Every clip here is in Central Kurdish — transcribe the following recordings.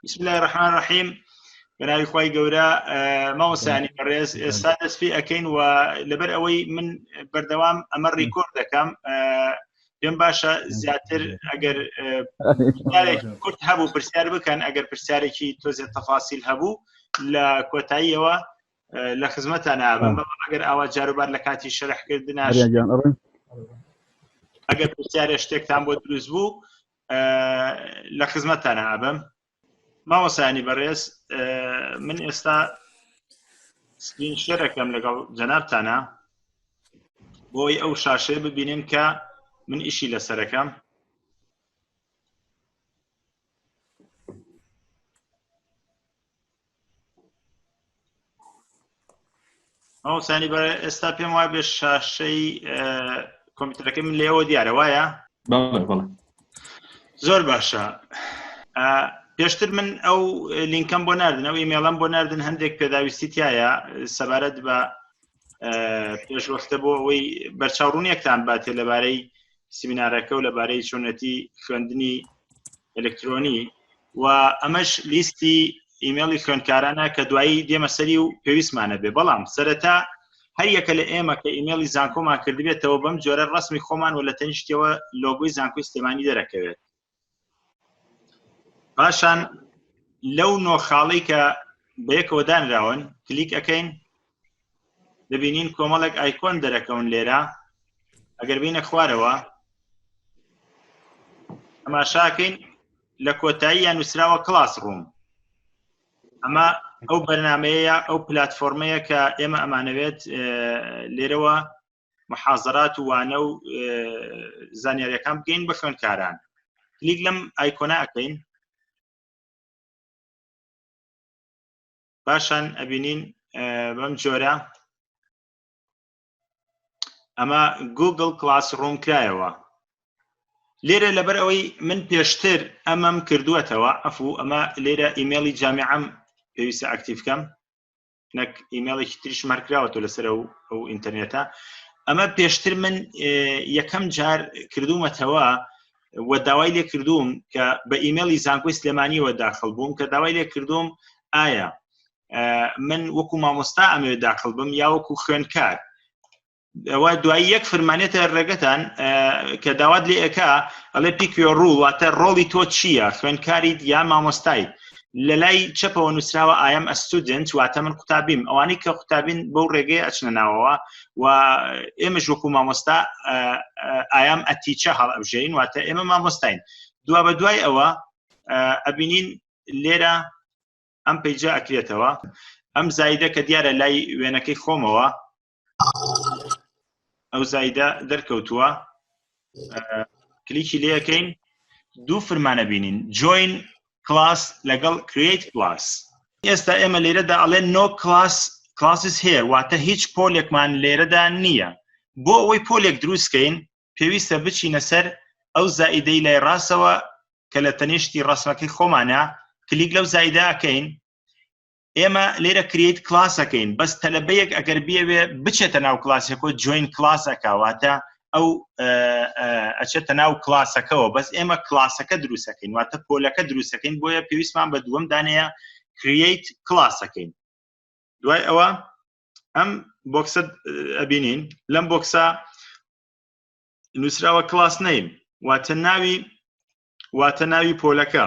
بسم الله الرحمن الرحیم بەناوی خی گەورە ماوەسانی بەڕێز ئێستا دەست پێ ئەەکەین و لەبەر ئەوەی من بەردەوام ئەمە ڕیکۆرد دەکەم پێم باشە زیاتر ئەگەر کورت هەبوو پرسیار بکەن ئەگەر پرسیارێکی تۆزێ تەفاسیل هەبوو لە کۆتاییەوە لە خزمەتان نابم ئەگەر ئاوا جاروبار لە کاتی شەرحکردناژیان ئەڕێن ئەگەر پرسیارە شتێکتان بۆ دروست بوو لە خزمەتتانە ئابم ماوەسانی بەڕێز من ئێستا سکرین شێرەکەم لەگەڵ جەنابتانە بۆی ئەو شاشەیە ببینن کە من ئیشی لەسەرەکەم ئەوسانی بە ئێستا پێم وای بێ شاشەی کۆمپیوتەرەکەی من لێەوە دیارە وایە زۆر باشە پێشتر من ئەو لینکەم بۆ نردن ئەو ئیمێڵم بۆ نردن هەندێک پێداویستی تایە سەبارەت بە پێشوەختە بۆ ئەوەی بەرچاوڕونیەکتان باتێ لەبارەی سیمینارەکە و لەبارەی چۆنەتی خوێندنی ئەلکترۆنی و ئەمەش لیستی ئیمێڵی خوێندکارانە کە دوایی دێمە سەری و پێویستمانە بێ بەڵام سەرەتا هەر یەکە لە ئێمە کە ئیمێڵی زانکۆمان کردبێتەوە بەم جۆرە ڕسمی خۆمان و لە تەنیشتەوە لۆگۆی زانکۆی سلێمانی دەرەکەوێت پاشان لەو نۆ خاڵی کە بەیەکەوە دانراون کلیک ئەەکەین دەبینین کۆمەڵێک ئایکۆن دەرەکەون لێرە ئەگەر بینە خوارەوە ئەماشاکەین لە کۆتایی یان نووسراوە کلاس ڕووم ئەمە ئەو بەرنمەیە ئەو پلتفۆرمەیە کە ئێمە ئەمانەوێت لێرەوە محازرات و وانە و زانیاریەکان بگەین بە خوێنکاران کلیک لەم ئایکۆنا ئەەکەین پاشان ئەبینین بەم جۆرە ئەمە گوگل کلاس ڕوم کرایەوە لێرە لەبەر ئەوەی من پێشتر ئەمەم کردووەتەوە ئەفو ئەمە لێرە ئیممەلی جامیعەم پێویستە ئەکتیف بکەم نەک ئیممەڵێکی تریش مەرکراوەەوە لەسەر ئەو ئەو ئینتەرنێتە ئەمە پێشتر من یەکەم جار کردوومەتەوە و داوای لێ کردووم کە بە ئیممەلی زانکۆی سلێمانیەوە داخل بووم کە داوای لێ کردوم ئایا من وەکو مامۆستا ئەمەوێت داخل بم یا وەکو خوێنکار ئەوە دوایی یەک فرمانێتە ڕێگەتان کە داوات لێ ئەک ئەڵێ پیکوێ ڕوو واتە ڕۆڵی تۆ چییە خوێنکاریت یا مامۆستایت لە لای چەپەوە نووسراوە ئاەم ئەستودنت واتە من قوتابیم ئەوانەی کە قوتابین بەو ڕێگەی ئەچنە ناوەوە و ئێمە ژۆکو مامۆستا ئایام ئەتیچە هەڵ ئەبژین واتە ئێمە مامۆستاین دوا بە دوای ئەوە ئەبینین لێرە ئەم پیجا ئەکرێتەوە ئەم زایدە کە دیارە لای وێنەکەی خۆمەوە ئەو زایدە دەرکەوتووە کلیکی لەکەین دوو فرمانە بینین جوین کلاس لەگەڵ کریت کلاس ئێستا ئێمە لێرەدا ئەڵێ نۆ کلاس کلاسس هەیە واتە هیچ پۆلێکمان لێرەدا نییە بۆ ئەوەی پۆلێک دروستکەین پێویستە بچینە سەر ئەو زائیدەی لای ڕاستەوە کە لە تەنیشتی ڕسمەکەی خۆمانە کلیک لەو زایداکەین ئێمە لێرە کریت کلاسەکەین بەس تەلبەیەک ئەگەر بێوێ بچێتە ناو کلاسەکۆ جوین کلاسەکەواتە ئەو ئەچێتە ناو کلاسەکەەوە بەس ئێمە کلاسەکە دروستەکەین واتە پۆلەکە دروستەکەین بۆیە پێویستمان بە دووەم دانەیە کریت کلاسەکەین دوای ئەوە ئەم بۆکسە ئەبینین لەم بۆکسە نووسراوە کلاس نیم واتە ناوی واتە ناوی پۆلەکە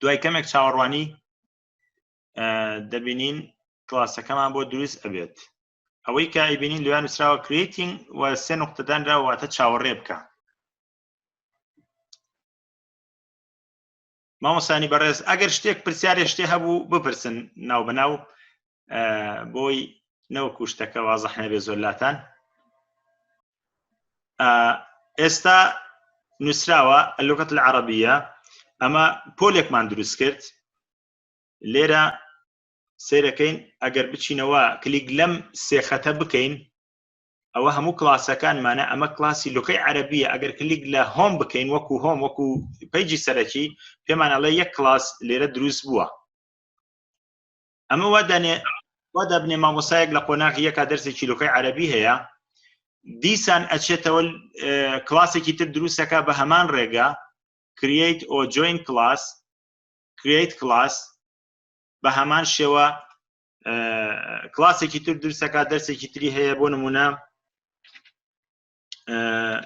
دوای کەمێک چاوەڕوانی دەبینین کلاسەکەمان بۆ دروست ئەبێت ئەوەی کە ئەیبینین لویان نووسراوە کرێتینگ و سێ نقطەدانرا واتە چاوەڕێ بکە مامۆسانی بەڕێز ئەگەر شتێک پرسیارێ شتێ هەبوو بپرسن ناو بەناو بۆی نەوەکو شتەکە وازەح نەبێ زۆر لاتان ئێستا نووسراوە لوکەت لە عربیە ئەمە پۆلێکمان دروست کرد لێرە سیرەکەین ئەگەر بچینەوە کلیک لەم سێخەتە بکەین ئەوە هەموو کلاسەکانمانە ئەمە کلاسی لوکەی عربیە ئەگەر کلیک لە هۆم بکەین وەکو هۆم وەکو پیجی سەرەکی پێمانەڵێ یەک کلاس لێرە دروست بووە ئەمە وا دەنێ وا دەبنێ مامۆسایەک لە قۆناغی یەکا دەرسی چیرۆکەی عەرەبی هەیە دیسان ئەچێتەوە اه، کلاسێکی تر دروستەکە بە هەمان ڕێگە create or join class create class بە هەمان شێوە اه، کلاسێکی تر دروستەکە دەرسێکی تری هەیە بۆ نمونە اه،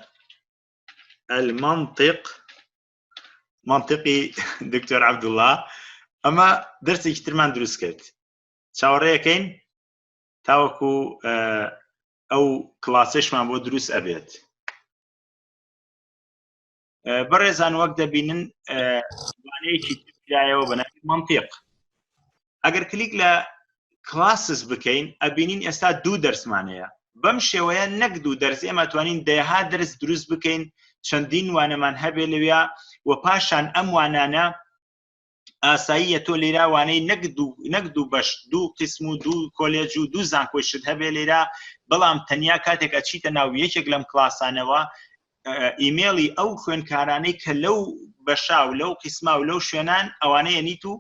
المنطق منطقی دکتۆر عبدوڵا ئەمە دەرسێکی ترمان دروست کرد چاوەڕێەکەین تاوەکو ئەو کلاسێشمان بۆ دروست ئەبێت بەڕێزان وەک دەبینن وانەیەکی ترایەوە بەناوی منطق ئەگەر کلیک لە کلاسس بکەین ئەبینین ئێستا دوو دەرسمانەیە بەم شێوەیە نەک دوو دەرس ئێمە توانین دەها دەرس دروست بکەین چەندین وانەمان هەبێ لەویا و پاشان ئەم وانانە ئاساییە تۆ لێراوانەی نەک نەک دوو بەش دوو قسم و دوو کۆلێج و دوو زانکۆشت هەبێ لێرا بەڵام تەنیا کاتێک ئەچیتە ناو یەکێک لەم کلاسانەوە ئیمێڵی ئەو خوێنکارانەی کە لەو بەشا و لەو قیسما و لەو شوێنان ئەوانەیە نیت و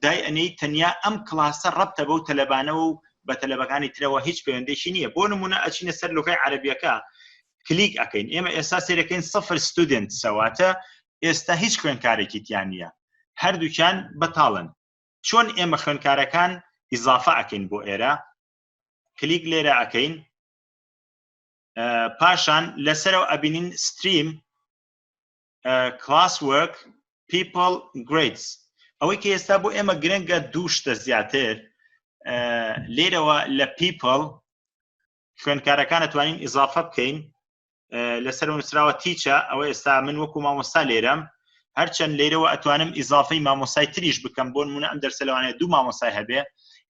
دای ئەنەی تەنیا ئەم کلاسە ڕەبتە بەو تەلەبانەوە و بە تەلەبەکانی ترەوە هیچ پەیوەندێکی نییە بۆ نمونە ئەچینە سەر لغی عربیەکە کلیک ئەەکەین ئێمە ئێستا سێرەکەین سفر ستودنت سەواتە ئێستا هیچ خوێنکارێکی تیان نییە هەردووکیان بەتاڵن چۆن ئێمە خوێنکارەکان ئیزافە ئەکەین بۆ ئێرە کلیک لێرە ئەەکەین پاشان لەسەرەوە ئەبینین ستریم کلاس وەرک پیپل گریدز ئەوەی کە ئێستا بۆ ئێمە گرنگە دوو شتە زیاتر لێرەوە لە پیپل خوێنکارەکان دەتوانین ئیزافە بکەین لەسەر نووسراوە تیچە ئەوە ئێستا من وەکو مامۆستا لێرەم هەرچەند لێرەوە ئەتوانم ئیزافەی مامۆسای تریش بکەم بۆ نمونە ئەم دەرسە لەوانەیە دوو مامۆسای هەبێ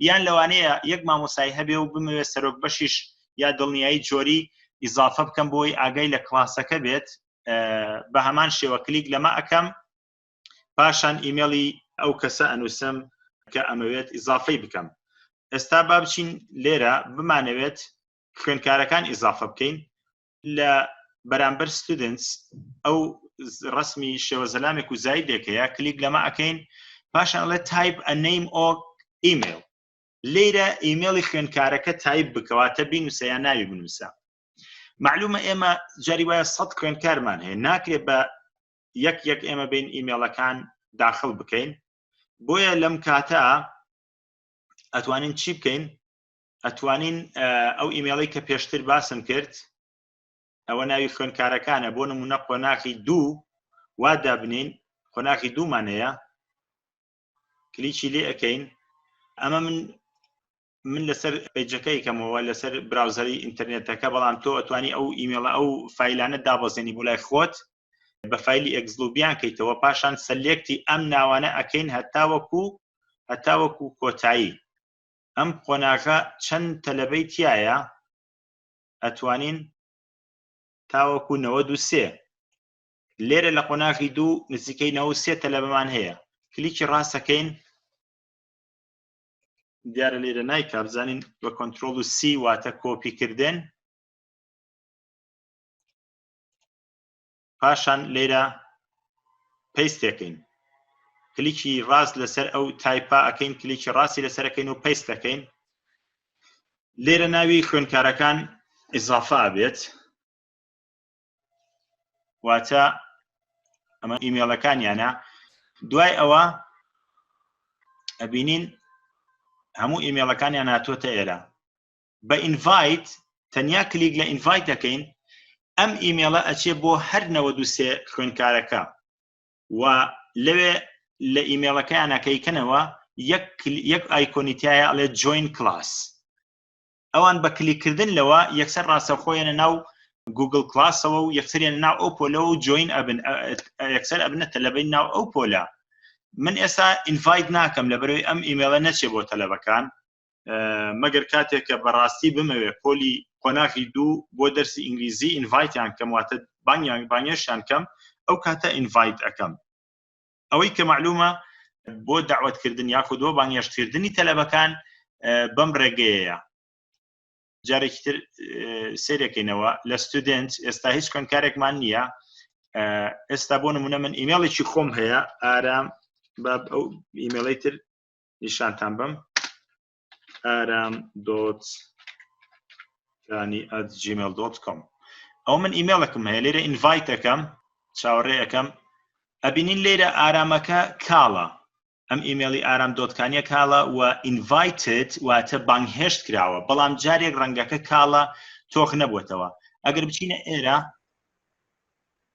یان لەوانەیە یەک مامۆسای هەبێ و بمەوێت سەرۆک بەشیش یا دڵنیایی جۆری ئیزافە بکەم بۆی ئاگای لە کلاسەکە بێت بە هەمان شێوە کلیک لەمە ئەەکەم پاشان ئیمێڵی ئەو کەسە ئەنووسم کە ئەمەوێت ئیزافەی بکەم ئێستا با بچین لێرە بمانەوێت خوێنکارەکان ئیزافە بکەین لە بەرامبەر ستودنس ئەو ڕسمی شێوە زەلامێک و زایدێکەیە کلیک لەمە ئەەکەین پاشان ئەڵێ تایپ ئەنەیم ئۆک ئیمێل لێرە ئیمێڵی خوێنکارەکە تایپ بکەواتە بینوسە یا ناوی بنووسە معلومە ئێمە جاری وایە سە خوێنکارمان هەیە ناکرێت بە یەک یەک ئێمە بین ئیمێڵەکان داخل بکەین بۆیە لەم کاتە ئەتوانین چی بکەین ئەتوانین ئەو ئیمێڵی کە پێشتر باسم کرد ئەوە ناوی خوێنکارەکانە بۆ نمونە قۆناخی دوو وا دابنین قۆناخی دوومانەیە کلیکی لێ ئەەکەین ئەمە من من لەسەر پێجەکەی کەمەوە لەسەر براوزەری ئینتەرنێتەکە بەڵام تۆ ئەتوانی ئەو ئیمێڵە ئەو فیلانە دابەزێنی بۆ لای خۆت بە فیلی ئەگزلوبیان کەیتەوە پاشان سەلێکتی ئەم ناوانە ئەکەین هەتاوەکو هەتاوەکو کۆتایی ئەم قۆناغە چەند تەلەبەی تایە ئەتوانین تاوەکو 93 لێرە لە قۆناغی دوو نزیکەی نەوە سێ تەلەبەمان هەیە کلیکی ڕاستەکەین دیارە لێرە نایکا بزانین بە کۆنتترۆل و سی واتە کۆپی کردن پاشان لێرە پێستەکەین کلیکی ڕاست لەسەر ئەو تایپا ئەەکەین کلیکی ڕاستی لەسەرەکەین و پێستەکەین لێرە ناوی خوێنکارەکان ئیزافا بێت واتە ئەمە ئیمێڵەکانیانە دوای ئەوە ئەبینین هەموو ئیمێڵەکانیان ناتۆتە ئێرە بە ئینڤایت تەنیا کلیک لە ئینڤایت دەکەین ئەم ئیمێڵە ئەچێ بۆ هەر نەوە دوسێ خوێنکارەکە و لەوێ لە ئیمێڵەکەیانەکەیکەنەوە یەک ئایکۆنیتایە ئەڵێ جوین کلاس ئەوان بە کلیکردن لەوە یەکسەر ڕاستەخۆیانە ناو گوگل کلاسەوە و یەکسریان ناو ئەو پۆلەوە و جوین ئەبن یەکسەر ئەبنە تەلەبەی ناو ئەو پۆلە من ئێستا ئینڤایت ناکەم لە بەرەوەی ئەم ئیمێڵە نەچێ بۆ تەلەبەکان مەگەر کاتێک کە بەڕاستی بمەوێ پۆلی قۆناغی دوو بۆ دەرسی ئینگلیزی ئینڤایتیان کەم واتە بانگیان بانگێشیان کەم ئەو کاتە ئینڤایت ئەەکەم ئەوەی کە معلومە بۆ داوەتکردن یاخود بۆ بانگێشتکردنی تەلەبەکان بەم ڕێگەیە جارێکی تر سێرەکەینەوە لە ستودنت ئێستا هیچ کۆنکارێکمان نییە ئێستا بۆ نمونە من ئیمێڵێکی خۆم هەیە ئارام باب ئەو ئیمێڵی تر نیشانتان بم ئارام دۆت کانی ئەت جیمێل دۆت کۆم ئەو من ئیمێڵەکەم هەیە لێرە ئینڤایتەکەم چاوەڕێ ئەەکەم ئەبینین لێرە ئارامەکە کاڵە ئەم ئیمێڵی ئارام دۆتکانیە کاڵە و ئینڤایتت واتە بانگهێشت کراوە بەڵام جارێک ڕەنگەکە کاڵە تۆخ نەبووتەوە ئەگەر بچینە ئێرە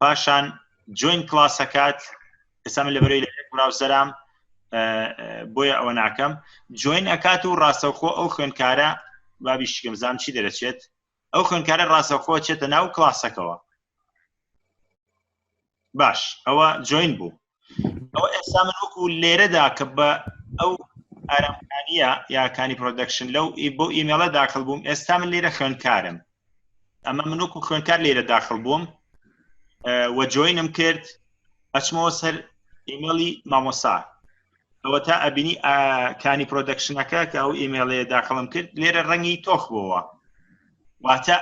پاشان جوین کلاسەکات ئێستا من لە بەرەی لە براوسەرام بۆیە ئەوە ناکەم جوین ئەکات و ڕاستەوخۆ ئەو خوێندکارە بابی شکم زام چی دەرەچێت ئەو خوێندکارە ڕاستەخۆ چێتە ناو کلاسەکەەوە باش ئەوە جوین بوو ئەوە ئێستا من وەکو لێرەدا کە بە ئەو ئارامکانیە یاکانی پرۆدەکشن لەو بۆ ئیمێڵە داخل بووم ئێستا من لێرە خوێندکارم ئەمە من وەکو خوێندکار لێرە داخل بووم وە جوینم کرد ئەچمەوە سەر ئیمێڵی مامۆسا ئەوە تا ئەبینی کانی پرۆدەکشنەکە کە ئەو ئیمێڵەیە داخڵم کرد لێرە ڕەنگی تۆخ بۆەوە واتە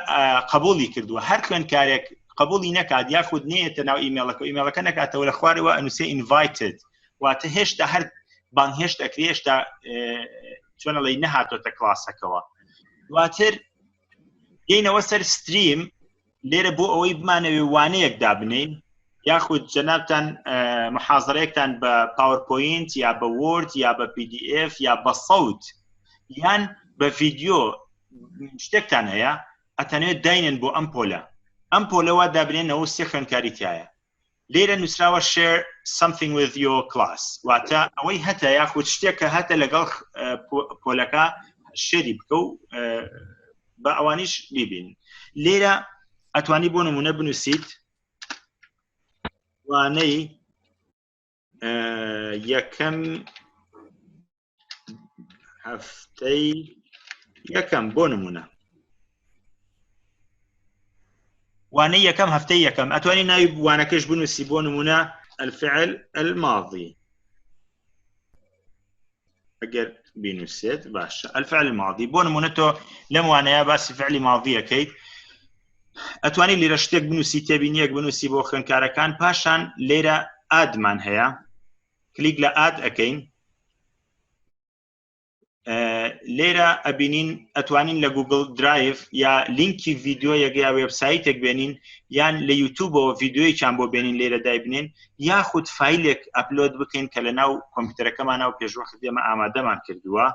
قبولی کردووە هەر خوێندکارێک قبولی نەکات یاخود نێتە ناو ئیمێڵەکە ئیمێڵەکە نکاتەوە لە خوارەوە ئەنووسێ ئینڤایتد واتە هێشتا هەر بان هێشت ئەکری هێشتا چۆنەڵی نەهاتۆتە کلاسەکەەوە دواتر دێنەوە سەر ستریم لێرە بۆ ئەوەی بمانەوێ وانەیەک دابنین یاخود جەنابتان محازڕێکتان بە پاورپۆینت یا بە وۆرد یا بە PDF یا بە سەوت یان بە ڤیددیو شتێکتان هەیە ئەتەنێت داینن بۆ ئەم پۆلە ئەم پۆلەوە دابنێنەوە سێ خوێنکاری تایە لێرە نووسراوە شێر something with your class واتە ئەوەی هەتە یاخود شتێکە هەتە لەگەڵ پۆلەکە شێری بکە و بە ئەوانیش بیبین لێرە ئەتوانی بۆ نمونە بنووسیت وانەی یەکەم هەفتەی یەکەم بۆ نمونە وانە یەکەم هەفتەی یەکەم ئەتوانی ناوی بوانەکەش بنووسی بۆ نمونە الفعل الماضی ئەگەر بینوسێت باشە ئەلفعلی ماضی بۆ نمونە تۆ لەم وانەیە باسی فعلی ماضیەکەیت ئەتوانی لێرە شتێک بنووسی تێبینیەک بنووسی بۆ خوێنکارەکان پاشان لێرە ئادمان هەیە کلیک لە ئاد ئەەکەین لێرە ئەبینین ئەتوانین لە گوگل درایف یا لینکی ڤیددیو یەک یا وبسایتێک بێنین یان لە یوتوبەوە ڤیددیویان بۆ بێنین لێرە دایبنین یاخود فیلێک ئەپلۆد بکەین کە لە ناو کۆمپیوتەرەکەمان ناو پێشوەخت دێمە ئامادەمان کردووە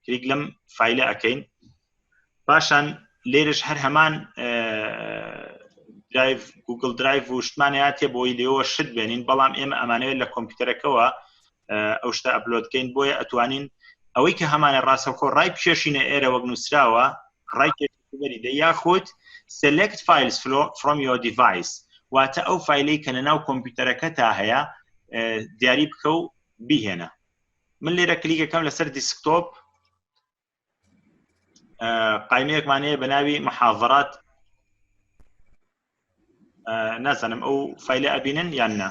کلیک لەم فیلە ئەەکەین پاشان لێرش هەر هەمان درایڤ گوگل درایڤ و شتمانەیە تێ بۆی لێەوە شت بێنین بەڵام ئێمە ئەمانەوێت لە کۆمپیوتەرەکەەوە ئەو شتە ئەپلۆدکەین بۆیە ئەتوانین ئەوەی کە هەمانە ڕاستەخۆ ڕای پێشینە ئێرە وەک نووسراوە ڕای بەریدە یاخود select files from your device واتە ئەو فیلەی کە لەناو کۆمپیوتەرەکە تا هەیە دیاری بکە و بیهێنە من لێرە کلیکەکەم لەسەر دیسکتۆپ قایمەیەکمانەیە بە ناوی محاڤڕات نازانم ئەو فیلە ئەبینن یان نا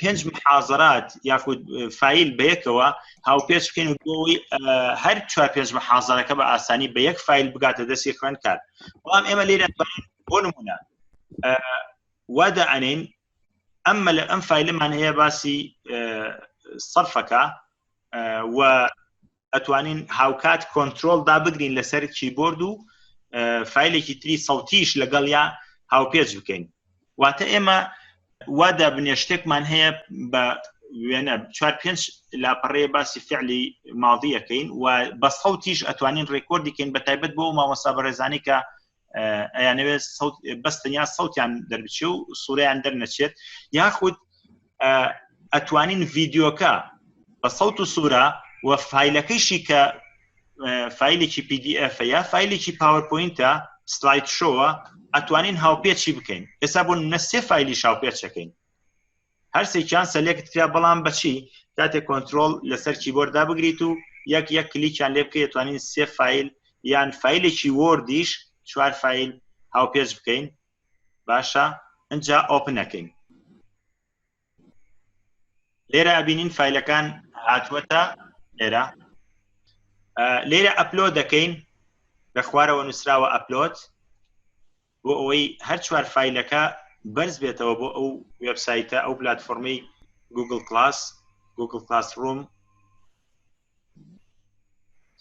پێنج محازرات یاخود فیل بەیەکەوە هاوپێچ بکەین و بۆی هەر چوار پێنج محازرەکە بە ئاسانی بە یەک فیل بگاتە دەستی خوێن کار بەڵام ئێمە لێرە بۆ نمونە وادا ئەنین ئەممە لە ئەم فیلمان هەیە باسی سەرفەکە و ئەتوانین هاوکات کۆنتترۆل دا بگرین لەسەر کیبۆرد و فیلێکی تری سەڵتیش لەگەڵ یا هاوپێچ بکەین واتە ئێمە وا دابنێ شتێکمان هەیە بە وێنە چوار پێنج لاپەڕێ باسی فعلی ماڵدیەکەین و بە سەوتیش ئەتوانین ڕێکۆردیکەین بە تایبەت بۆ مامۆستا بەڕێزانانی کە ئەیانەوێت بەس تەنیا سەوتیان دەربچێ و سووریان دەرنەچێت یاخود ئەتوانین ڤیددیوکە بە سەوت و سوورە و فیلەکەیشی کە فیلێکی PDF یا فیلێکی پاورپۆینتە سلایت شۆوە ئەتوانین هاوپێچی بکەین ئێستا بۆ نە سێ فیلی شاوپێچەکەین هەرسێکیان سەلێکت کرا بەڵام بەچی کاتێک کۆنتترۆل لەسەر کیبۆردا بگریت و یەک یەک کلیکیان لێ بکە توانین سێ فیل یان فیلێکی وردیش چوار فیل هاوپێچ بکەین باشە ئەجا ئۆپنەکەین لێرە بینین فیلەکان هاتووەتە لێرە لێرە ئەپلۆ دەکەین لە خوارەوە نووسراوە ئەپلۆت بۆ ئەوەی هەر چوار فیلەکە بەرز بێتەوە بۆ ئەو وبسایتە ئەو پلتفۆرمەی گوگل کلاس گوگل کلاس ڕوم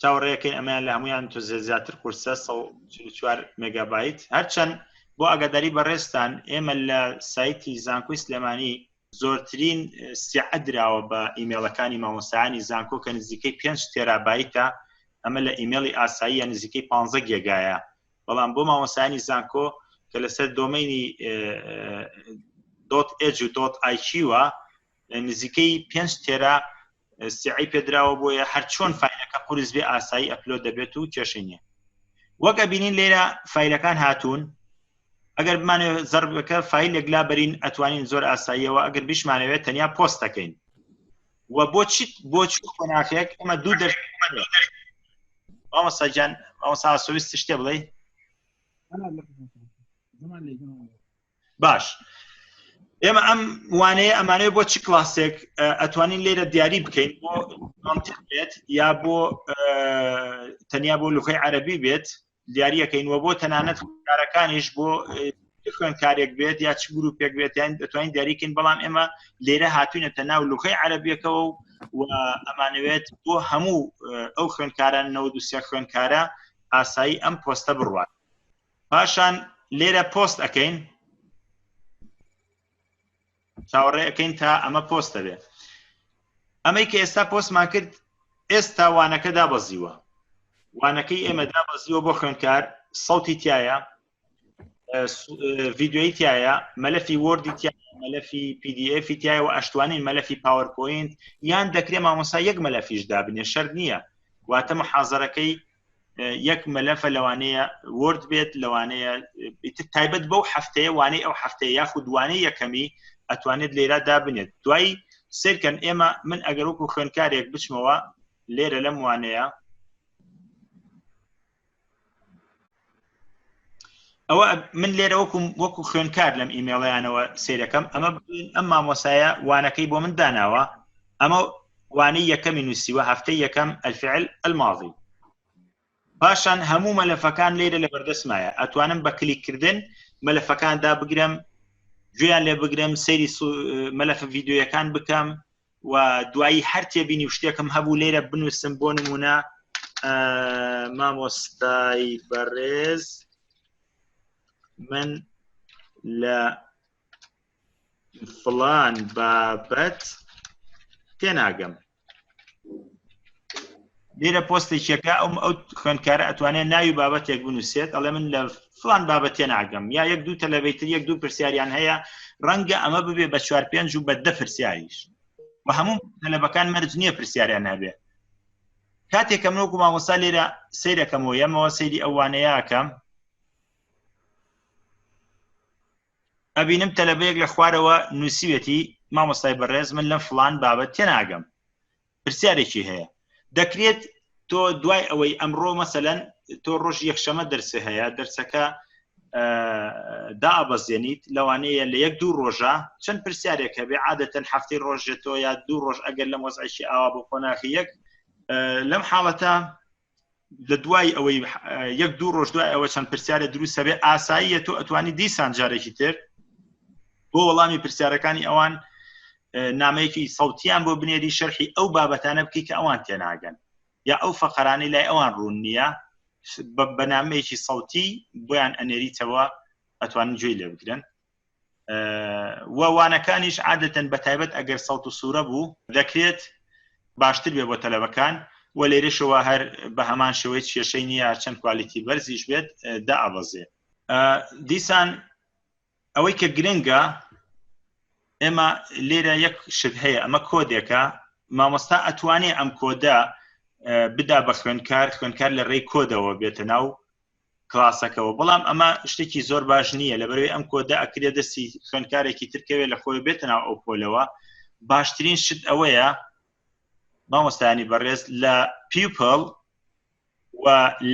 چاوەڕێەکەی ئەمەیان لە هەمویان تۆ زیاتر قورسە 4 مگابیت هەرچەند بۆ ئەگەداری بەڕێستان ئێمە لە سایتی زانکۆی سلێمانی زۆرترین سیعە دراوە بە ئیممەڵەکانی مامۆسایانی زانکۆ کە نزیکەی 5 تێرابیتە ئەمە لە ئیممەڵی ئاساییە نزیکەی 15 گێگایە بەڵام بۆ مامۆسانی زانکۆ کە لەسەر دۆمەینی دۆت ئج و دۆت ئایچیوە نزیکەی پێنج تێرا سعی پێدراوە بۆیە هەر چۆن فیلەکە قرس بێ ئاسایی ئەپلۆ دەبێت و کێشە نیە وەک ئەبینین لێرە فیلەکان هاتوون ئەگەر بمانێ زەربەکە فیلێک لا بەرین ئەتوانین زۆر ئاساییەوە ئەگەر بشمانەوێت تەنیا پۆستەکەین و بۆ چیت بۆ چ قۆناخێک ئەمە دوو دەر ئەوساجان ئەوسا سویست شتێ بڵێ باش ئێمە ئەم وانەیە ئەمانەیە بۆ چ کلاسێک ئەتوانین لێرە دیاری بکەین بۆ بێت یا بۆ تەنیا بۆ لوخی عەربی بێت دیاریەکەین وە بۆ تەنانەت کارەکانیش بۆ خوێنکارێک بێت یا چ گروپێک بێتیان دەتوانین دیاریکەین بەڵام ئێمە لێرە هاتوینەتە ناو لوخی عەربیەکەەوە و ئەمانەوێت بۆ هەموو ئەو خوێنکاران نەوە دوسیە خوێنکارە ئاسایی ئەم پۆستە بڕوات پاشان لێرە پۆست ئەەکەین چاوەڕێ ئەەکەین تا ئەمە پۆستە بێ ئەمەی کە ئێستا پۆستمان کرد ئێستا وانەکە دابەزیوە وانەکەی ئێمە دابەزیوە بۆ خوێندکار سەوتی تایە ڤیددیوی تایە مەلەفی وردی تیا مەلەفی PDF تایە و ئەشتوانین مەلەفی پاوەرپۆینت یان دەکرێت مامۆسا یەک مەلەفیش دابنێ شەر نییە واتە محازەرەکەی یەک مەلەفە لەوانەیە ورد بێت لەوانەیە تایبەت بەو هەفتەیە وانەی ئەو هەفتەیە یاخود دوانەی یەکەمی ئەتوانێت لێرا دابنێت دوای سرکەن ئێمە من ئەگەر وەکو خوێنکارێک بچمەوە لێرە لەم وانەیە ئەوە من لێرە وەکو وەکو خوێنکار لەم ئیمێڵیانەوە سیرەکەم ئەمە ئەم مامۆسایە وانەکەی بۆ من داناوە ئەمە وانەی یەکەمی نووسیوە هەفتەی یەکەم ئەلفعل ئەلماڵی پاشان هەموو مەلەفەکان لێرە لە بەردەسمایە ئەتوانم بە کلیکردن مەلەفەکاندا بگرم گوێیان لێ بگرم سەیری مەلەفە یددیوەکان بکەم و دوایی هەر تێبینی و شتێکم هەبوو لێرە بنووسم بۆ نمونە مامۆستای بەڕێز من لە فلان بابەت تێناگەم لێرە پۆستێکێکە ئەو ئەو خوێندکارە ئەتوانێت ناوی بابەتێک بنووسێت ئەڵێ من لە فلان بابەتێ ناگەم یا یەک دوو تەلەبەیتر یەک دوو پرسیاریان هەیە ڕەنگە ئەمە ببێ بە چوار پێنج و بە دە پرسیاریش و هەموو تەلەبەکان مەرج نییە پرسیاریان هەبێ کاتێکە منۆک و مامۆستا لێرە سیرەکەمەوە یەمەوە سەیری ئەوانەیەکەم ئەبینم تەلەبەیەک لە خوارەوە نووسیوێتی مامۆستای بەڕێز من لەم فلان بابەت تێناگەم پرسیارێکی هەیە دەکرێت تۆ دوای ئەوەی ئەمڕۆ مەسەەن تۆ ڕۆژ یەکشەمە دەرسێ هەیە دەرسەکە دابەزێنیت لەوانەیە لە یەک دوو ڕۆژە چەند پرسیارێک هەبێ عادەتەن هەفتی ڕۆژێتەوە یا دوو ڕۆژ ئەگەر لەم وەزعکی ئاوا بۆ قۆناخی یەک لەم حاڵەتە لە دوای ئەوەی یەک دوو ڕۆژ دوای ئەوە چەند پرسیارە دروستە بێ ئاساییە تۆ ئەتوانی دیسان جارێکی تر بۆ وەڵامی پرسیارەکانی ئەوان نامەیەکی سەوتیان بۆ بنێری شەرحی ئەو بابەتانە بکەی کە ئەوان تێناگەن یا ئەو فەقەرانەی لای ئەوان ڕوون نییە بەنامەیەکی سەوتی بۆیان ئەنێریتەوە ئەتوانن گوێی لێ بگرن و وانەکانیش عادەتەن بە تایبەت ئەگەر سەڵت و سوورە بوو دەکرێت باشتر بێ بۆ تەلەبەکان و لێرەشەوە هەر بە هەمان شێوەی کێشەی نییە چەند کوالیتی بەرزیش بێت دا ئابەزێ دیسان ئەوەی کە گرنگە ئێمە لێرە یەک شت هەیە ئەمە کۆدێکە مامۆستا ئەتوانێ ئەم کۆدە بدا بە خوێنکار خوێنکار لە ڕێی کۆدەوە بێتە ناو کلاسەکەەوە بەڵام ئەمە شتێکی زۆر باش نییە لە بەرەوەی ئەم کۆدا ئەکرێ دەستی خوێنکارێکی ترکەوێت لە خۆی بێتە ناو ئەو پۆلەوە باشترین شت ئەوەیە مامۆستانی بەڕێز لە پیپل و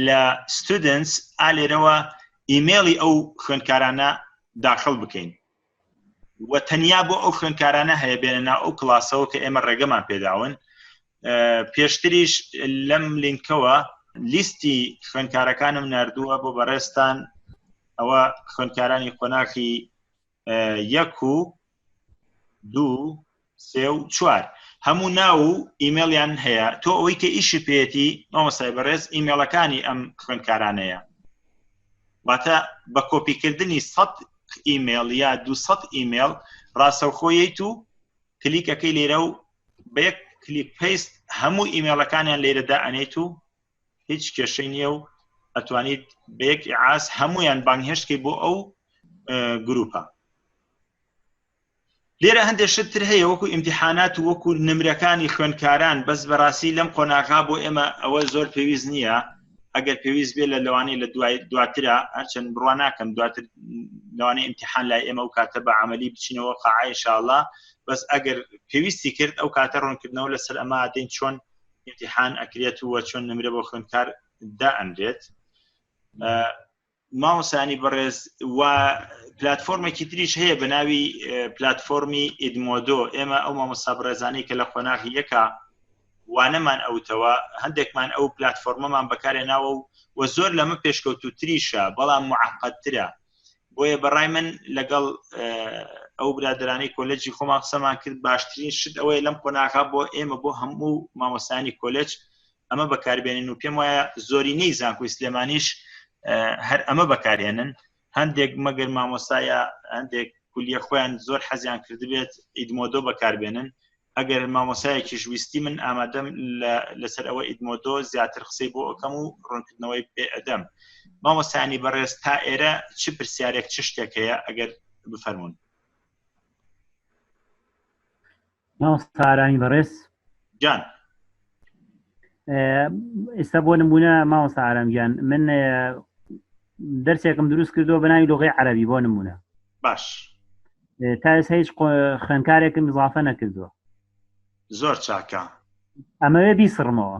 لە ستودنس ئالێرەوە ئیممەڵی ئەو خوێندکارانە داخل بکەین و تەنیا بۆ ئەو خوێنکارانە هەیە بێنە ناو ئەو کلاسەوە کە ئێمە ڕێگەمان پێداون پێشتریش لەم لینکەوە لیستی خوێنکارەکانم نردووە بۆ بەڕێستان ئەوە خوێنکارانی قۆناخی یەک و دوو سێ و چوار هەموو ناو و ئیمێڵیان هەیە تۆ ئەوەی کە ئیشی پێێتی مامۆسای بەڕێز ئیمێڵەکانی ئەم خوێندکارانەیە واتە بە کۆپیکردنی سەد ئیمێڵ یا دو ئیمێڵ ڕاستەوخۆیت و کلیکەکەی لێرە و بە یەک کلیک پیست هەموو ئیمێڵەکانیان لێرەدا ئەنێت و هیچ کێشەی نییە و ئەتوانیت بە یەک ئاس هەمویان بانگهێشتکەی بۆ ئەو گروپە لێرە هەندێک شت تر هەیە وەکو ئیمتحانات و وەکو نمرەکانی خوێنکاران بەس بەڕاستی لەم قۆناغا بۆ ئێمە ئەوە زۆر پێویست نییە ئەگەر پێویست بێ لە لەوانەیە لە دوای دواترا هەرچەند بڕوا ناکەم دواتر لەوانەیە ئیمتحان لای ئێمە و کاتە بە عملی بچینەوە قاعایشاءله بەس ئەگەر پێویستی کرد ئەو کاتە ڕوونکردنەوە لەسەر ئەمە دەین چۆن ئیمتحان ئەکرێت و چۆن نمرە بۆ خوێنکار دا ئەنرێت مامۆستایانی بەڕێز و پلتفۆرمێکی تریش هەیە بە ناوی پلتفۆرمی ئیدمۆدۆ ئێمە ئەو مامۆستا بڕێزانەی کە لە قۆناغی یەکە وانەمان ئەوتەوە هەندێکمان ئەو پلتفۆرمەمان بەکارێ ناوە و و زۆر لەمە پێشکەوت و تریشە بەڵام معقەتترە بۆیە بەڕای من لەگەڵ ئەو برادرانی کۆلەجی خۆمان قسەمان کرد باشترین شت ئەوەیە لەم قۆناغا بۆ ئێمە بۆ هەموو مامۆستانی کۆلج ئەمە بەکاربێنین و پێم وایە زۆرینەی زانکۆی سلێمانیش هەر ئەمە بەکارێنن هەندێک مەگەر مامۆسایە هەندێک کولیە خۆیان زۆر حەزیان کردبێت ئیدمۆدۆ بەکاربێنن ئەگەر مامۆسایەکی ژویستی من ئامادەم لەسەر ئەوە ئیدمۆدۆ زیاتر قسەی بۆ ئەەکەم و ڕوونکردنەوەی پێ ئەدەم مامۆسانی بەڕێز تا ئێرە چ پرسیارێک چ شتێک هەیە ئەگەر بفەرمونون مامۆستا ئارامی بەڕێز جان ئێستا بۆ نمونە مامۆستا ئارامگیان من دەرسێکم دروست کردو بەناوی لغی عربی بۆ نمونە باش تا هیچ خوێنکارێکم زافە نەکردووە زۆر چاکە ئەمەوێ بیسڕمەوە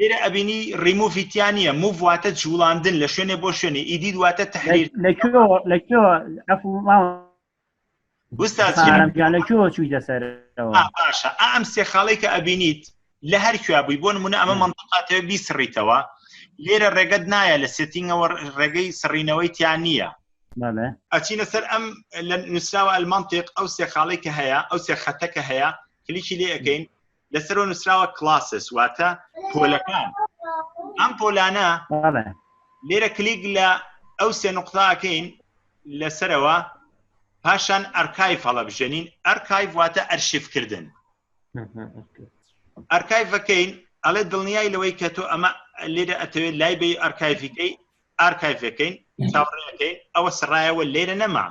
ئێرە ئەبینی ڕیموفیتیان نیە موڤ واتە جوڵاندن لە شوێنێ بۆ شوێنێ ئیدید واتە تحریر لەکوێوە چووی دەسەر باشە ئەم سێ خاڵی کە ئەبینیت لە هەر کوێ بووی بۆ نمونە ئەمە منتقاتەوە بیسڕیتەوە لێرە ڕێگەت نایە لە سێتینگەوە ڕێگەی سڕینەوەی تیان نییە ئەچینە سەر ئەم لە نووسراوە ئەلمانتێک ئەو سێ خاڵی کە هەیە ئەو سێ خەتەکە هەیە کلیکی لێ ئەەکەین لەسەرەوە نووسراوە کلاسس واتە پۆلەکان ئەم پۆلانە بەڵێ لێرە کلیک لە ئەو سێ نقطاکەین لەسەرەوە پاشان ئەرکایف هەڵەبژێنین ئەرکایف واتە ئەرشیفکردن ئەرکایفەکەین ئەڵێ دڵنیای لەوەی کە تۆ ئەمە لێرە ئەتەوێت لای بی ئەرکایفیکەی ئارکایڤ ئەکەین چاوەڕێ ئەکەین ئەوە سڕایەوە لێرە نەما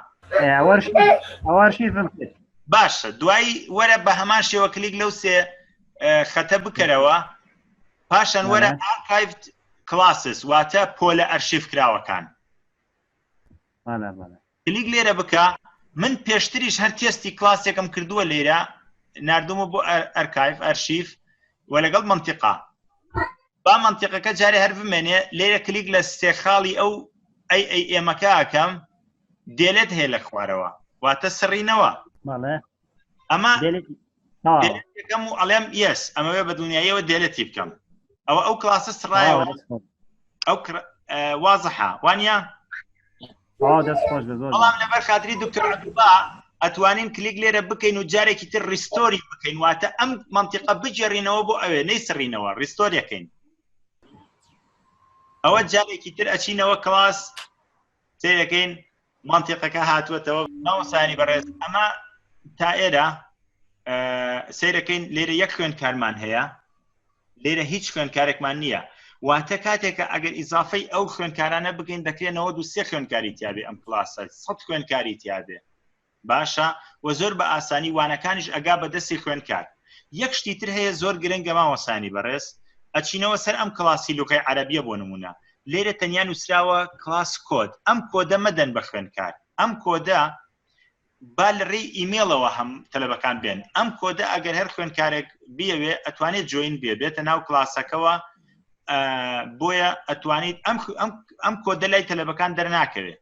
باشە دوایی وەرە بە هەمان شێوە کلیک لەو سێ خەتە بکەرەوە پاشان وەرە ئارکایڤ کلاسس واتە پۆلە ئەرشیف کراوەکان کلیک لێرە بکە من پێشتریش هەر تێستی کلاسێکم کردووە لێرە نردومە بۆ ئەرکایف ئەرشیف و لەگەڵ منتیقا با منتیقەکە جارێ هەر بمێنێ لێرە کلیک لە سێ خاڵی ئەو ئەی ئەی ئێمەکە ئەکەم دێلێت هەیە لە خوارەوە واتە سڕینەوە ئەمە یەکەم و ئەڵێم یس ئەمەوێ بە دنیایەوە دێلەتی بکەم ئەوە ئەو کلاسە سڕایەوە ئەو وازەحە وانە بەڵام لەبەر خاتری دکتۆر عبدوڵا ئەتوانین کلیک لێرە بکەین و جارێکی تر ریستۆری بکەین واتە ئەم منتیقە بگێڕینەوە بۆ ئەوێ نەی سڕینەوە ریستۆریەکەین ئەوە جارێکی تر ئەچینەوە کلاس سیرەکەین منتیقەکە هاتووەتەوە ماوەسانی بەڕێز ئەمە تا ئێرە سیرەکەین لێرە یەک خوێن کارمان هەیە لێرە هیچ خوێنکارێکمان نییە واتە کاتێکە ئەگەر ئیزافەی ئەو خوێنکارانە بگەین دەکرێنەوە دو سێ خوێنکاری تیاابێ ئەم کلاسە سە خوێنکاری تیاابێ باشە وە زۆر بە ئاسانی وانەکانیش ئەگا بە دەستی خوێندکار یەک شتی تر هەیە زۆر گرنگە مامۆستایانی بەڕێز ئەچینەوە سەر ئەم کڵاسی لوغەی عەرەبیە بۆ نمونە لێرە تەنیا نووسراوە کڵاس کۆد ئەم کۆدە مەدەن بە خوێندکار ئەم کۆدە با لە ڕێی ئیمێڵەوە هەم تەلەبەکان بێن ئەم کۆدە ئەگەر هەر خوێندکارێک بیەوێ ئەتوانێت جوین بێ بێتە ناو کلاسەکەەوە بۆیە ئەتوانیت ئەم ئەم کۆدە لای تەلەبەکان دەرناکەوێت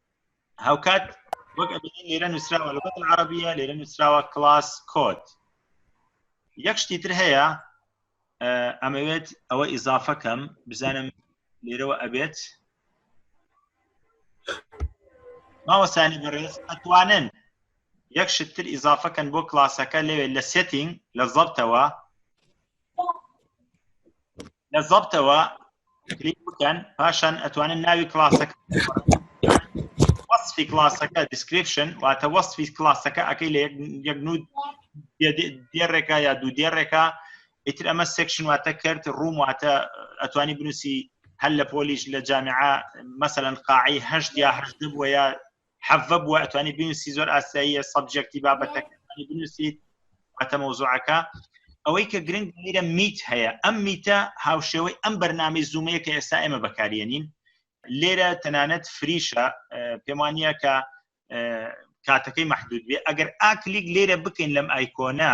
هاوکات وەک لێرە نووسراوە لە بەتن عربیە لێرە نووسراوە کلاس کۆت یەک شتی تر هەیە ئەمەوێت ئەوە ئیزافەکەم بزانم لێرەوە ئەبێت ماوەسانی بەڕێز ئەتوانن یەک شتتر ئیزافەکەن بۆ کلاسەکە لەوێ لە سێتینگ لە زەبتەوە لە زەبتەوە کلیک بکەن پاشان ئەتوانن ناوی کلاسەکە وەصفی کلاسەکە دیسکریپشن واتە وەصفی کلاسەکە ئەەکەی لە یەک نود دێڕێکە یا دوو دێڕێکە ئیتر ئەمە سێکشن واتە کرد ڕووم واتە ئەتوانی بنووسی هەل لە پۆلیش لە جامعە مەسەەن قاعی هەشت یا هەشت بووە یا حەڤە بووە ئەتوانی بنووسی زۆر ئاساییە سەبجەکتی بابەتەکانی بنووسیت واتە مەوزوعەکە ئەوەی کە گرنگ میرە میت هەیە ئەم میتە هاوشێوەی ئەم بەرنامی زوومەیە کە ئێستا ئێمە بەکارێنین لێرە تەنانەت فریشە پێمانە کە کاتەکەی محدود بێ ئەگەر ئاکلیک لێرە بکەین لەم ئایکۆنا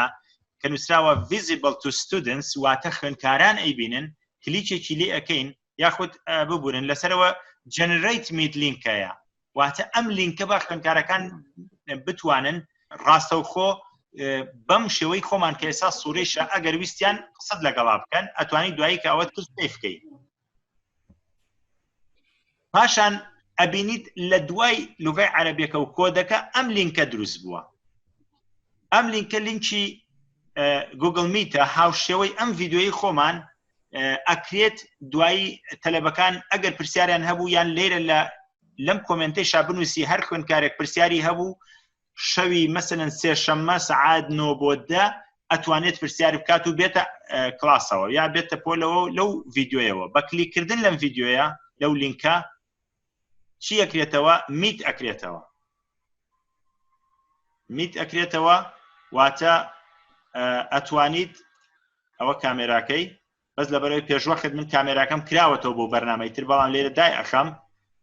کە نووسراوە visible to students واتە خوێنکاران ئەیبینن کلیچێکی لێ ئەەکەین یاخود ببورن لەسەرەوە جەنریت میت لینکەیە واتە ئەم لینکە بە خوێنکارەکان بتوانن ڕاستەوخۆ بەم شێوەی خۆمان کە ئێستا سوورەیشە ئەگەر ویستیان قسەت لەگەڵا بکەن ئەتوانی دوایی کە ئەوە تست پێ بکەی پاشان ئەبینیت لە دوای لغای عەربیەکە و کۆدەکە ئەم لینکە دروست بووە ئەم لینکە لینکی گوگل میتە هاوشێوەی ئەم ڤیددیوی خۆمان ئەکرێت دوایی تەلەبەکان ئەگەر پرسیاریان هەبوو یان لێرە لە لەم کۆمنتی شابنووسی هەر خوێنکارێک پرسیاری هەبوو شەوی مەسەن سێشەممە سعاد نۆ بۆ دە ئەتوانێت پرسیار بکات و بێتە کلاسەوە یا بێتە پۆلەوە لەو ڤیددیوەوە بە کلیکردن لەم ڤیددیوە لەو لینکە چی ئەکرێتەوە میت ئەکرێتەوە میت ئەکرێتەوە واتە ئەتوانیت ئەوە کامێراکەی بەس لە بەرەوەی پێشوەخت من کامێراکەم کراوەتەوە بۆ بەرنمەی تر بەڵام لێرە دای ئەخەم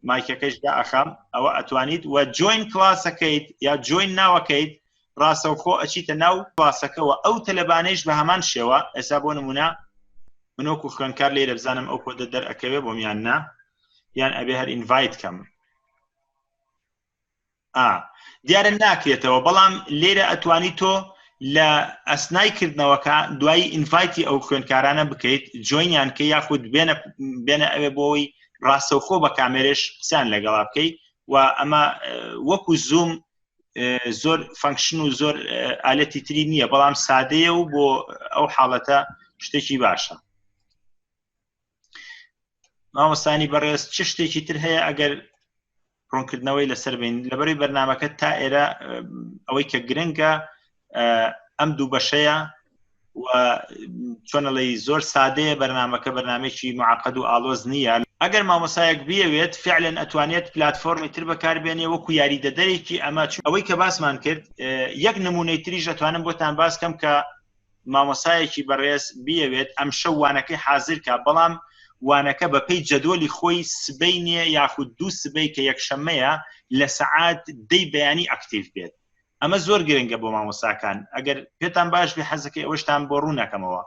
مایکەکەش دا ئەخەم ئەوە ئەتوانیت وە جوین کلاسەکەیت یا جوین ناوەکەیت ڕاستەوخۆ ئەچیتە ناو کلاسەکەەوە ئەو تەلەبانەیش بە هەمان شێوە ئێسا بۆ نمونە منۆک و خوێنکار لێرە بزانم ئەو کۆدە دەرەکەوێ بۆ میان نا یان ئەبێ هەر ئینڤایت کەم ئا دیارە ناکرێتەوە بەڵام لێرە ئەتوانی تۆ لە ئەسنای کردنەوەکە دوایی ئینڤایتی ئەو خوێندکارانە بکەیت جوینیان کە یاخود بێنە بێنە ئەوێ بۆەوەی ڕاستەوخۆ بە کامێرێش قسان لەگەڵا بکەی و ئەمە وەکو زوم زۆر فەنکشن و زۆر ئالەتی تری نییە بەڵام سادەیە و بۆ ئەو حاڵەتە شتێکی باشە مامۆستانی بەڕێز چ شتێکی تر هەیە ئەگەر ڕوونکردنەوەی لەسەر بین لەبەری بەرنمەکە تا ئێرە ئەوەی کە گرنگە ئەم دوو بەشەیە و چۆنەڵی زۆر سادەیە بەرنمەکە بەرنمێکی معقد و ئالۆز نییە ئەگەر مامۆسایەک بیەوێت فعلەن ئەتوانێت پلتفۆرمی تر بەکاربێنێ وەکو یاری دەدەرێکی ئەمە ئەوەی کە باسمان کرد یەک نمونەی تریش ئەتوانم بۆتان باس کەم کە مامۆستایەکی بەڕێز بیەوێت ئەمشەو وانەکەی حازر کا بەڵام وانەکە بە پێی جەدۆلی خۆی سبەینێ یاخود دوو سبەی کە یەکشەمەیە لە سەعات دەی بەیانی ئەکتیڤ بێت ئەمە زۆر گرنگە بۆ مامۆستاکان ئەگەر پێتان باش بێ حەزەکەی ئەوەشتان بۆ ڕوونەکەمەوە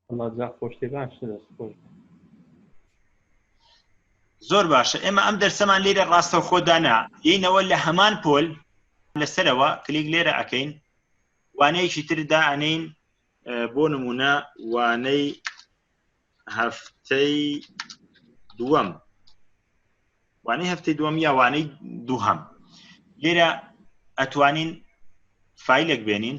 وەڵا جا خۆشتێ باشتە دەست خۆش بێ. زۆر باشە ئێمە ئەم دەرسەمان لێرە ڕاستە خۆدانا یینەوە لە هەمان پۆل لەسەرەوە کلیک لێرە ئەەکەین وانەیەکی تردا ئەنین بۆ نمونە وانەی هەفتەی دووەم وانەی هەفتەی دووەم یا وانەی دووهەم لێرە ئەتوانین فیلێک بێنین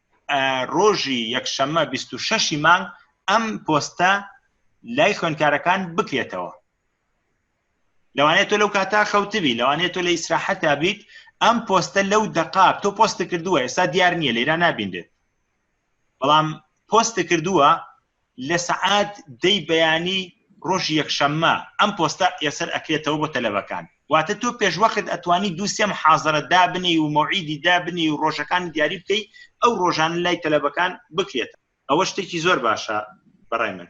ڕۆژی یەکشەممە بیست و شەشی مانگ ئەم پۆستە لای خوێندکارەکان بکرێتەوە لەوانێت تۆ لەو کاتا خەوتبی لەوانێت تۆ لە ئیسراحەتا بیت ئەم پۆستە لەو دەقا تۆ پۆست کردووە ئێستا دیار نییە لێرا نابینێت بەڵام پۆست کردووە لە سەعات دەی بەیانی ڕۆژی یەکشەممە ئەم پۆستە یەسەر ئەکرێتەوە بۆ تەلەبەکان واتە تۆ پێشوەخت ئەتوانی دووسێ محازرە دابنی و مەوعیدی دابنی و ڕۆژەکان دیاری بکەی ئەو ڕۆژان لای تەلەبەکان بکرێت ئەوە شتێکی زۆر باشە بەڕای من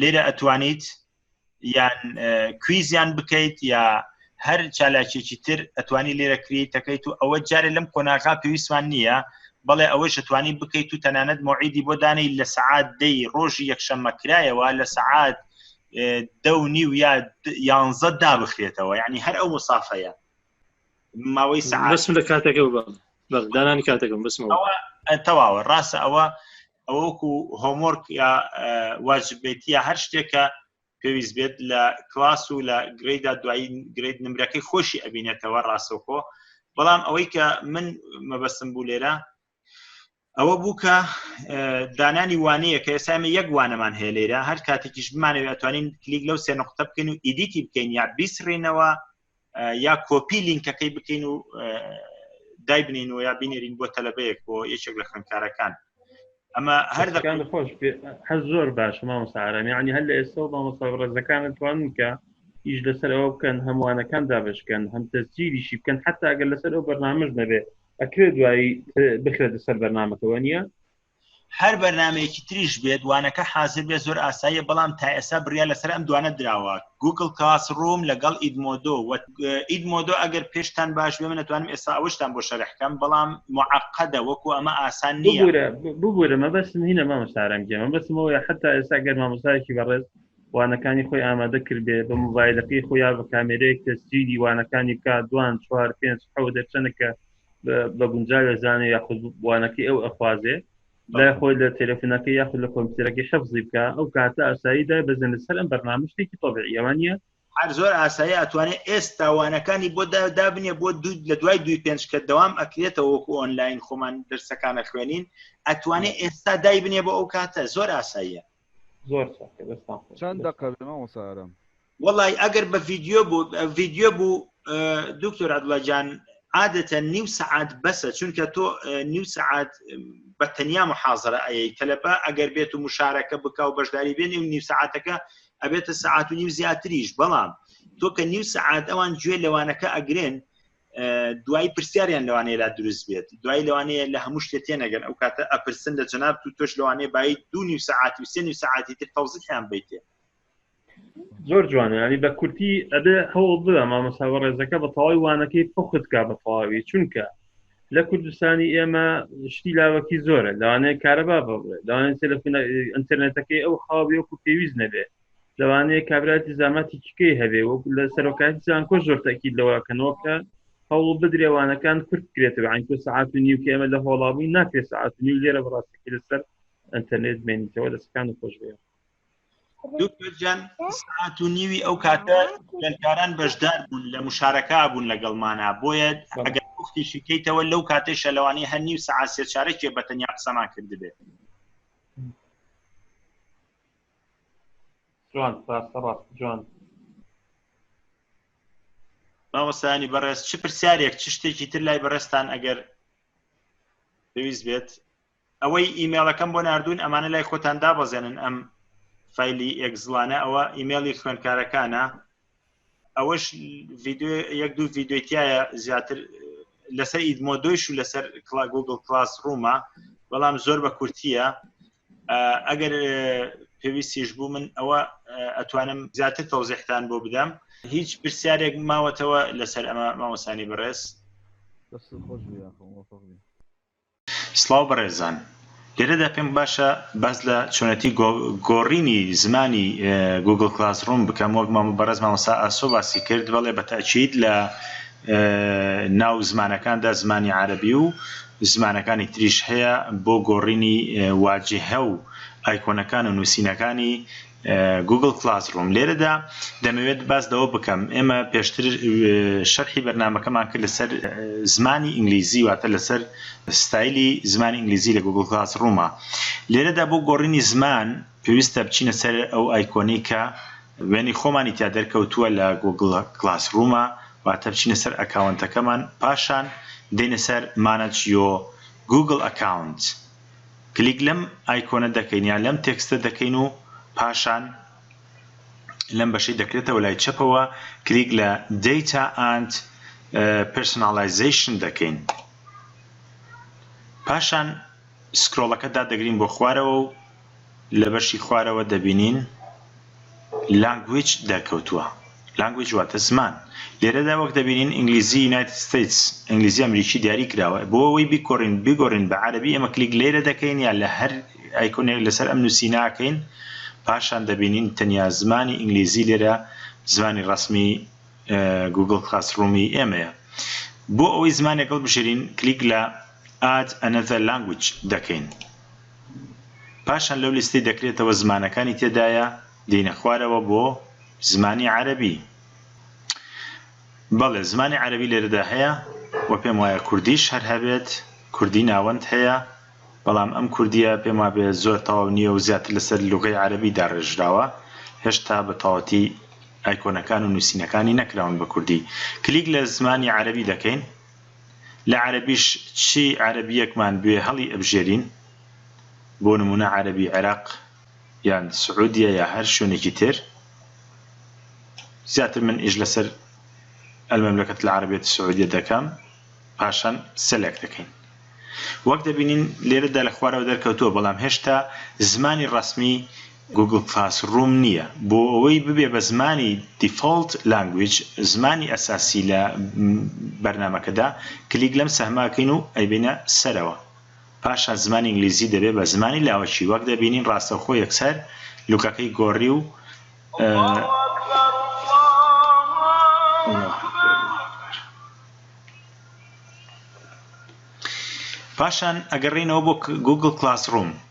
لێرە ئەتوانیت یان کویزیان بکەیت یا هەر چالاکێکی تر ئەتوانی لێرە کریتەکەیت و ئەوە جارێ لەم قۆناغا پێویستمان نییە بەڵێ ئەوەش ئەتوانی بکەیت و تەنانەت مۆعیدی بۆ دانەی لە سعات دەی ڕۆژی یەکشەممە کرایەوە لە سعات دە و نیو یا یانزە دابخرێتەوە یعنی هەر ئەو مسافەیە ماوەی سعات لە کاتەکە بەغدانانی کاتەکەم بسمەوە تەواوە ڕاستە ئەوە ئەوە وەکو هۆمۆرک یا واجبێتی یا هەر شتێکە پێویست بێت لە کلاس و لە گرێدا دوایی گرێت نمرەکەی خۆشی ئەبینێتەوە ڕاستەوخۆ بەڵام ئەوەی کە من مەبەستم بوو لێرە ئەوە بوو کە دانانی وانەیە کە ئێسامە یەک وانەمان هەیە لێرە هەر کاتێکیش بمانەوە توانین کلیک لەو سێ نقطە بکەین و ئیدیتی بکەین یا بیسڕینەوە یا کۆپی لینکەکەی بکەین و دایبنین و یا بینێرین بۆ تەلبەیەک بۆ یەکێک لە خوێندکارەکان ئەمە هەر دەکان خۆش هەر زۆر باش مامۆسارامی عنی هەر لە ئێستا مامۆستا ڕێزەکانت توان کە ئیش لەسەر ئەوە بکەن هەمووانەکان دابشکەن هەم تەسجیریشی بکەن حتا ئەگەر لەسەر ئەو بەرنامەش نەبێت ئەکرێت دوایی بخرێتە سەر بەرنمەکەەوە نیە هەر بەرنامەیەکی تریش بێت وانەکە حازر بێت زۆر ئاساییە بەڵام تا ئێستا بڕیار لەسەر ئەم دوانە دراوە گوگل کاس ڕووم لەگەڵ ئیدمۆدۆ ئیدمۆدۆ ئەگەر پێشتان باش بێ منەتوانم ئێستا ئەوشتان بۆ شەرحکەم بەڵام معقدە وەکو ئەمە ئاسان نیە ببورە مەبەستم هینە مامە سارم گێمە بەسمەوە حتا ئێستا گەر مامۆسایکی بەڕێز وانەکانی خۆی ئامادە کردێ بە موبایلەکەی خۆیا بە کامێرەیەک تەسجیلی وانەکانی بکات دوان چوار پێنج حەوە دەرچەنەکە بە گونجا دەزانێ یاخود بوانەکەی ئەو ئەخوازێ لای خۆی لە تەلەفۆنەکە یاخود لە کۆمپیوتەرەکەی حەفزی بکە ئەو کاتە ئاسایی دای بەزن لەسەر ئەم بەرنامە شتێکی تۆبعی ئەوە نیە هەر زۆر ئاسایی ئەتوانێت ئێستا وانەکانی بۆ دابنیە بۆ دوود لە دوای دوی پێنج کە دەوام ئەکرێتەوە وەکو ئۆنلاین خۆمان دەرسەکانە خوێنین ئەتوانێت ئێستا دای بنێ بۆ ئەو کاتە زۆر ئاساییە زۆر چەند دقە بێمە وەسارم وەڵی ئەگەر بە ڤیددیو بوو ڤیددیو بوو دکتۆر عدڵەجان عادەتە نیو سعات بەسە چونکە تۆ نیو سعات بە تەنیا محازرە ئەی تەلەبە ئەگەر بێت و مشارەکە بک و بەشداری بێنی و نیو سعاتەکە ئەبێتە سعات و نیو زیاتریش بەڵام تۆ کە نیو سعات ئەوان گوێ لەوانەکە ئەگرێن دوای پرسیاریان لەوانەیە لا دروست بێت دوای لەوانەیە لە هەموو شتێ تێنەگەن ئەو کاتە ئەپرسن لە جناب تو تۆش لەوانەیە بای دو نیو سعاتی و سێ نیو سعاتی تر تەوزیحیان بیتێ زۆر جوانە ینی بە کورتی ئەبێ هەوڵ بدا مامۆسا بەڕێزەکە بە تەواوی وانەکەی پخت کا بە تەواوی چونکە لە کوردستانی ئێمە شتی لاوەکی زۆرە لەوانەیە کارەبا بڕێ لەوانێت تەلەفۆن ئەتەرنێتەکەی ئەو خاوی وەکو پێویست نەبێ لەوانەیە کابراتی زاماتی چکەی هەبێ وەک لە سەرۆکاتی زانکۆ زۆر تاکی لەوەکەنەوە کە هەوڵ بدرێوانەکان کورت کرێتەوە ئەنکۆ سعات و نیو کە ئێمە لە هۆڵابووی ناکرێت سعات و نیو لێرە بڕاستەکە لەسەر ئەتەرنێت بینیتەوە دەستەکان خۆش بێت دوکتورجان ساعت و نیوی ئەو کاتە گەلکاران بەشدار بوون لە مشارەکە بوون لەگەڵمانە بۆیە ئەگەر وختیشی کەیتەوە لەو کاتەی شەلەوانی هەر نیو سعات سێ چارەکێ بەتەنیا قسەمان کردبێت جوان ڕاستە ڕاست جوان مامۆستانی بەڕێز چ پرسیارێک چ شتێکی تر لای بەڕێستان ئەگەر پێویست بێت ئەوەی ئیمێڵەکەم بۆ نردون ئەمانە لای خۆتان دابەزێنن ئەم فیلی ئەگزلانە ئەوە ئیمێڵی خوێندکارەکانە ئەوەش ڤیددیو یەک دوو ڤیددیوتیایە زیاتر لەسەر ئیدمۆ دۆیش و لەسەر کلا گوگل کلاس ڕوومە بەڵام زۆر بە کورتیە ئەگەر پێویستیش بوو من ئەوە ئەتوانم زیاتر تەوزیحتان بۆ بدەم هیچ پرسیارێک ماوەتەوە لەسەر ئەمە مامۆسانی بەڕێز خۆش سڵاو بەڕێزان، لێرەدا پێم باشە باس لە چۆنێتی گۆڕینی زمانی گووگڵ کڵاس ڕووم بکەم وەک بەڕێز مامۆستا ئاسۆ باسی کرد بەڵێ بە تەئکید لە ناو زمانەکاندا زمانی عەرەبی و زمانەکانی تریش هەیە بۆ گۆڕینی واجهە و ئایکۆنەکان و نووسینەکانی گوگڵ کڵاس ڕووم لێرەدا دەمەوێت باس لەوە بکەم ئێمە پێشتر شەرحی بەرنمەکەمان کرد لەسەر زمانی ئینگلیزی واتە لەسەر ستایلی زمانی ئینگلیزی لە گوگڵ کڵاس ڕوومە لێرەدا بۆ گۆڕینی زمان پێویستە بچینە سەر ئەو ئایکۆنی کە وێنی خۆمانی تیا دەرکەوتووە لە گوگڵ کلاس ڕوومە واتە بچینە سەر ئەکاونتەکەمان پاشان دێنە سەر مانەج یۆ گوگل ئەکاونت کلیک لەم ئایکۆنە دەکەین یان لەم تێکستە دەکەین و پاشان لەم بەشەی دەکرێتەوە لای چەپەوە کلیک لە Data and Personalization دەکەین پاشان سکرۆڵەکە دادەگرین بۆ خوارەوە و لە بەشی خوارەوە دەبینین Language دەرکەوتووە Language واتە زمان لێرەدا وەک دەبینین ئینگلیزی United States ئینگلیزی ئەمریکی دیاری کراوە بۆ ئەوەی بیکۆرین بیگۆرین بە عەرەبی ئێمە کلیک لێرە دەکەین یا لە هەر ئایکۆنێک لەسەر ئەم نووسیناکەین پاشان دەبینین تەنیا زمانی ئینگلیزی لێرە زمانی ڕسمی گوگل کلاس ڕوومی ئێمەیە بۆ ئەوەی زمانێک هەڵبژێرین کلیک لە Add another language دەکەین پاشان لەو لیستەی دەکرێتەوە زمانەکانی تێدایە دێینە خوارەوە بۆ زمانی عەرەبی بەڵێ زمانی عەرەبی لێرەدا هەیە و پێم وایە کوردیش هەر هەبێت کوردی ناوەند هەیە بەڵام ئەم کوردیە پێم وابێ زۆر تەواو نییە و زیاتر لەسەر لغی عەربی داڕێژراوە هێشتا بە تەواتی ئایکۆنەکان و نووسینەکانی نەکراون بە کوردی کلیک لە زمانی عەربی دەکەین لە عەرەبیش چی عەرەبییەکمان بوێ هەڵی ئەبژێرین، بۆ نموونە عەرەبی عێراق یان سعودیە یا هەر شوێنێکی تر، زیاتر من ئیش لەسەر المملکة العربیە السعودیە دەکەم پاشان سەلەک دەکەین. وەک دەبینین لێرەدا لە خوارەوە دەرکەوتووە، بەڵام هێشتا زمانی ڕەسمی گوگڵ کلاس ڕووم نییە بۆ ئەوەی ببێ بە زمانی دیفۆڵت لانگویج، زمانی ئەساسی لە بەرنامەکەدا، کلیک لەم سەهمە ئەکەین و ئەیبەینە سەرەوە، پاشان زمانی ئینگلیزی دەبێ بە زمانی لاوەکی، وەک دەبینین ڕاستەوخۆ یەکسەر لوکەکەی گۆڕی و.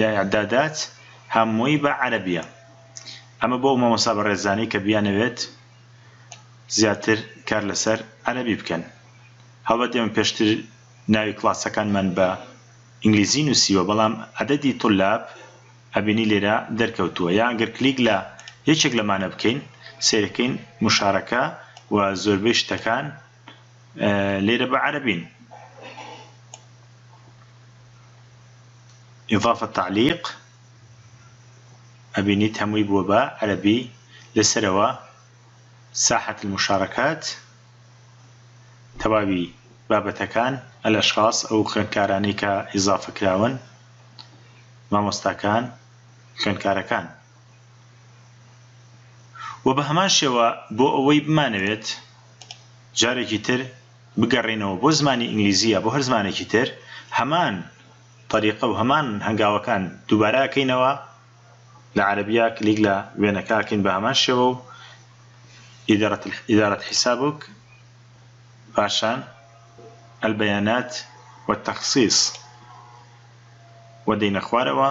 یایا دادات هەمووی بە عەرەبیە. ئەمە بۆ ئەو مامۆستا بەڕێزانەی کە بیانەوێت زیاتر کار لەسەر عەرەبی بکەن. هەڵبەت ئێمە پێشتر ناوی کڵاسەکانمان بە ئینگلیزی نووسیوە بەڵام عەدەدی طلاب ئەبینی لێرە دەرکەوتووە یان گەر کلیک لە یەکێک لەمانە بکەین سەیرەکەین مشارەکە و زۆربەی شتەکان لێرە بە عەرەبین. اضافە تعلیق ئەبینیت هەمووی بووە بە عەرەبی لەسەرەوە ساحەت المشارەکات تەواوی بابەتەکان الاشخاص ئەو خوێندکارانەی کە اضافە کراون مامۆستاکان خوێندکارەکان وە بە هەمان شێوە بۆ ئەوەی بمانەوێت جارێکی تر بگەڕێینەوە بۆ زمانی ئینگلیزی یا بۆ هەر زمانێکی تر هەمان طریقە و هەمان هەنگاوەکان دووبارە ئەکەینەوە لە عەرەبیە کلیک لە وێنەکە ئەکەین بە هەمان شێوە و ئیدارەت حیسابک پاشان البیانات والتخصیص و دەینە خوارەوە